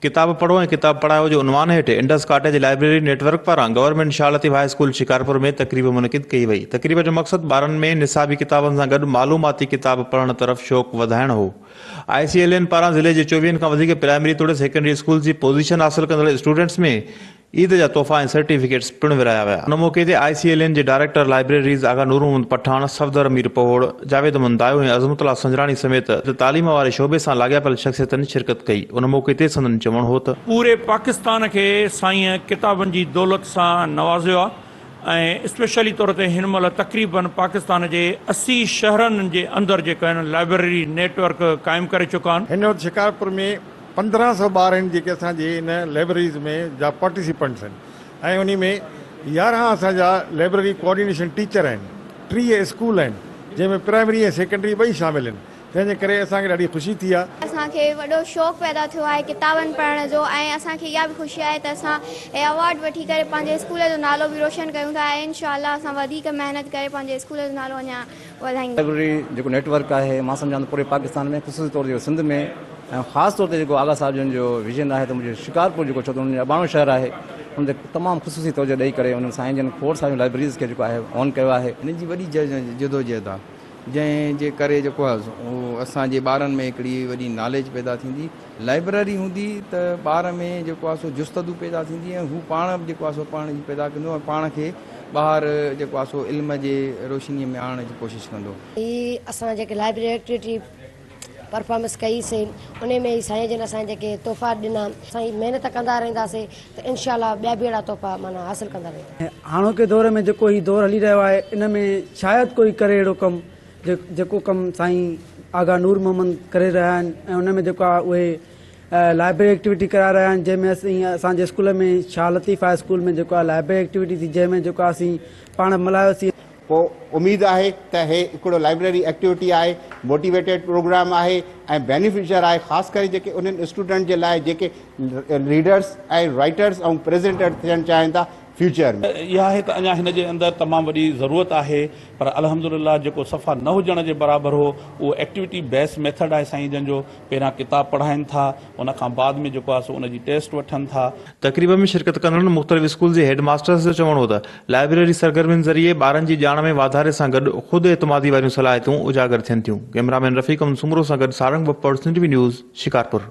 ڪتاب پڙهو ۽ ڪتاب پڙهايو جي عنوان هيٺ Indus cottage library network پاران government Shah Latif high school Shikarpur ۾ تقريب منعقد ڪئي وئي تقريب جو مقصد ٻارن ۾ نصابي ڪتابن سان گڏ معلوماتي ڪتاب پڙهڻ طرف شوق وڌائڻ هو آء سي ايل اين پاران ضلعي جي چوويهن کان وڌيڪ پرائمري توڙي سيڪنڊري اسڪولز جي پوزيشن حاصل ڪندڙ اسٽوڊنٽس ۾ عيد جا تحفا ۽ سرٽيفڪيٽس پڻ ورهايا ويا. ان موقعي تي آء سي ايل اين جي ڊائريڪٽر لائبريريز آغا نورمحمد پٺاڻ، صفدر مير پوهوڙ، جاويد احمد دايو ۽ عظمت الله سنجراڻي سميت تعليم واري شعبي سان لاڳاپيل شخصيتن شرڪت ڪئي. ان موقعي تي سندن چوڻ هو ته. پوري پاڪستان کي سائين ڪتابن جي دولت سان نوازيو آهي ۽ اسپيشلي طور تي هن مهل تقريباً پاڪستان جي اسي شهرن جي اندر جيڪا هن لائبريري نيٽ ورڪ قائم ڪري چڪا آهن. هن وقت شڪارپور ۾ پندرهن سؤ ٻار آهن جيڪي اسان جي ان لائبريريز ۾ جا پارٽيسيپنٽس آهن ۽ انهي ۾ يارهن اسان جا لائبريري ڪوآرڊينيشن ٽيچر آهن، ٽيهه اسڪول آهن جنهن ۾ پرائمري ۽ سيڪنڊري ٻئي شامل آهن تنهن جي ڪري اسان کي ڏاڍي خوشي ٿي آهي. اسان کي وڏو شوق پيدا ٿيو آهي ڪتابن پڙهڻ جو ۽ اسان کي اها به خوشي آهي ته اسان هي اوارڊ وٺي ڪري پنهنجي اسڪول جو نالو به روشن ڪيون ٿا ۽ انشاء الله اسان وڌيڪ محنت ڪري پنهنجي اسڪول جو نالو اڃان ڳالهائيندي. لائبريري جيڪو نيٽ ورڪ آهي مان سمجهان ٿو پوري پاڪستان ۾ خصوصي طور تي سنڌ ۾ ۽ خاص طور تي جيڪو آغا صاحب جن جو ويزن آهي ته منهنجو شڪارپور جيڪو ڇو ته ان جو اباڻو شهر آهي ان تي تمام خصوصي توجهه ڏئي ڪري انهن سائين جن کوڙ ساريون لائبريريز کي جيڪو آهي آن ڪيو آهي. هن جي وڏي جدوجهد آهي جنهن جي ڪري جيڪو آهي سو اسان جي ٻارن ۾ هڪڙي وڏي ناليج پيدا ٿيندي. لائبرري هوندي ته ٻار ۾ جيڪو آهي سو جستدو پيدا ٿيندي ۽ هو پاڻ به جيڪو آهي سو پڙهڻ جي پيدا ڪندو ۽ پاڻ کي ٻاهر جيڪو آهي سو علم جي روشني ۾ آڻڻ جي ڪوشش ڪندو. هي اسان جيڪي لائبرري ايڪٽيوٽي پرفارمنس ڪئي سي انهي ۾ هي سائين جن اسان کي جيڪي تحفا ڏنا اسان هي محنت ڪندا رهندا سي ته انشاء الله ٻيا به اهڙا تحفا معنيٰ حاصل ڪندا ويندا. هاڻوڪي دور ۾ جيڪو هي دور هلي رهيو آهي ان ۾ شايد ڪوئي ڪري اهڙو ڪم جيڪو ڪم سائين آغا نور محمد ڪري رهيا آهن ۽ ان ۾ جيڪو آهي اهي لائبرري ايڪٽيوٽي ڪرائي رهيا آهن جنهن ۾ سائين اسان جي school ۾ Shah Latif high school ۾ جيڪو آهي لائبرري ايڪٽيوٽي ٿي جنهن ۾ جيڪو آهي اسين پاڻ ملهايوسين. پوء اميد آهي ته هي هڪڙو لائبرري ايڪٽيوٽي آهي، موٽيويٽيڊ پروگرام آهي ۽ بينيفشر آهي خاص ڪري جيڪي انهن اسٽوڊنٽ جي لاء جيڪي ريڊرس ۽ رائيٽرس ۽ پريزينٽر ٿيڻ چاهين ٿا فيوچر ۾. اها آهي ته اڃا هن جي اندر تمام وڏي ضرورت آهي پر الحمدلله جيڪو صفا نه هجڻ جي برابر هو اهو ايڪٽيوٽي بيس ميٿڊ آهي سائين جن جو پهريان ڪتاب پڙهائين ٿا ان کان بعد ۾ جيڪو آهي سو ان جي ٽيسٽ وٺن ٿا. تقريب ۾ شرڪت ڪندڙن مختلف اسڪول جي هيڊ ماسترس جو چوڻ هو ته لائبريري سرگرمين ذريعي ٻارن جي ڄاڻ ۾ واڌاري سان گڏ خود اعتمادي واريون صلاحيتون اجاگر ٿين ٿيون ڪئميرا مين رفيق امن سومرو سان گڏ سارنگ بپڙ سنڌ وي نيوز شڪارپور.